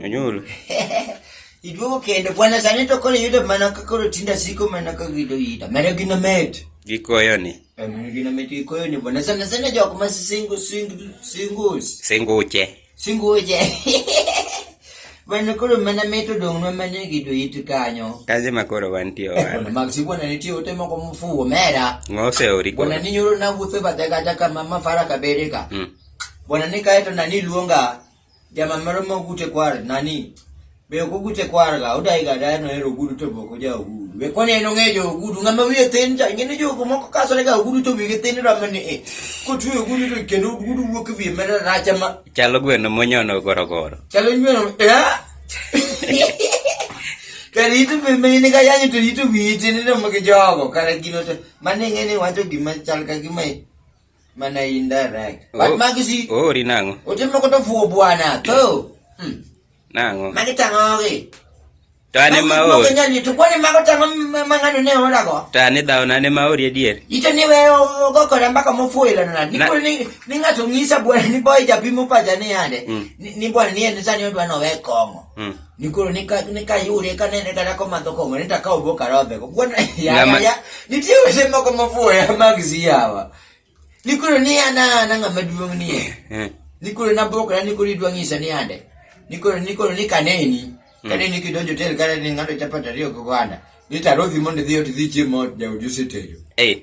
Onyuol. Iduogo kendo bwana sani to koro yudo mana ka koro tinda siko mana ka gido yida. Mana gino met. Gikoyo ni. Mana gino met gikoyo ni bwana sana sana jok ma single single singles. Singuche. Singoje. Mana koro mana meto dong' ma mana gido it kanyo. Kazi ma koro wantie wan. Mag si bwana nitie ote moko mfuwo mera. Ngose ori koro. Bwana ni nyoro na wuotho bathe kata ka mama fara kabere ka. Mm. Bwana ni kaeto nani luonga jama moro mogute kwar nani Be ok oguche kwarga, odaiga adaya nohero ogudu to boko ja ogudu. Be kone en ong'e jo ogudu, ng'ama wiye thin cha, ing'e ni jogo moko kasore ga ogudu to wiye thin rame ni e. Kotwe ogudu to kendo ogudu wuok e wiye mera racha ma. Chalo gweno monyono gorogoro. Chalo gweno, ya? Kare ito be mene ka yanyo to ito wiye thin rame gi jogo, kare gino to, mane ing'e ni wacho gima chal ka gima e. Mana indirect. Oh. But magisi. Oh, ri nango. Ote moko to fuo bwana. To. Hmm. Nango. Magi tango gi. To ane ma o. Magi nyali to kwani mago tango mangano ne ora go. To ane dawo nane ma ori adier. Ito ni we go kora mbaka mofuo ila nana. Ni kuli ni ni ngato ngisa bwana ni boy japimo paja ni ande. Hmm. Ni bwana ni ende sani odwa no we kongo. Hmm. nikoro nikayude kanene kata komadho kong'o ni takawo bo karodhe go kuona yaya nitie weche moko mafuoya mag siyawa nikoro ni an an ang'ama duong' ni eh, eh. nikoro nabokra nikoro idwa ng'isa ni ande nikoro nikoro ni kaneni hmm. kaneni kidonjo tel kata ni ng'ato chapat ariyo gi oganda ni tarodhi mondo idhi ot idhi chiemo ot jaodi osetejo eh.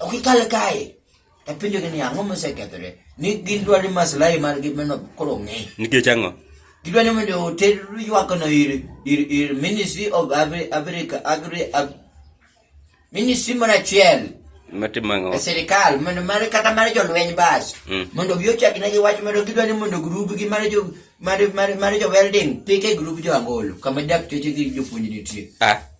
Ok ikal kae. E penjo ni ang'o mosekethore? Ni gin dwari maslahi margi meno koro ng'e. Nikech ang'o? Gidwa ni mondo oter ywakno ir ir ir Ministry of Agri Agri Agri Ag- Ministry moro achiel Matimo ang'o? e sirikal mondo mar kata mar jolweny bas Mm. mondo gi ochak negi wach mondo gidwa ni mondo grup gi mar jo mar mar mar jo welding pike grup jo angolo kama dak choche gi jopuonj nitie Ah,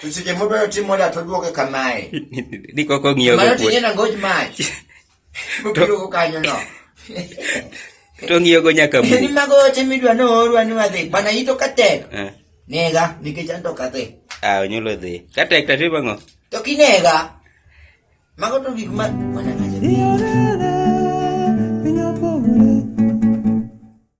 To seche modwaro timo da to duoke kamae. Ni koko ng'iyo go. Mano tinye na ngoj mach. Mobiro go kanyo no. To ng'iyo go nyaka mu. Ni mago ote midwa no orwa ni wadhi. Bana ito katek. Eh. Nega nikech an to kadhi. Ah, onyulo dhi. Katek ta timo ngo? To kinega. Mago to gik ma wana kaje.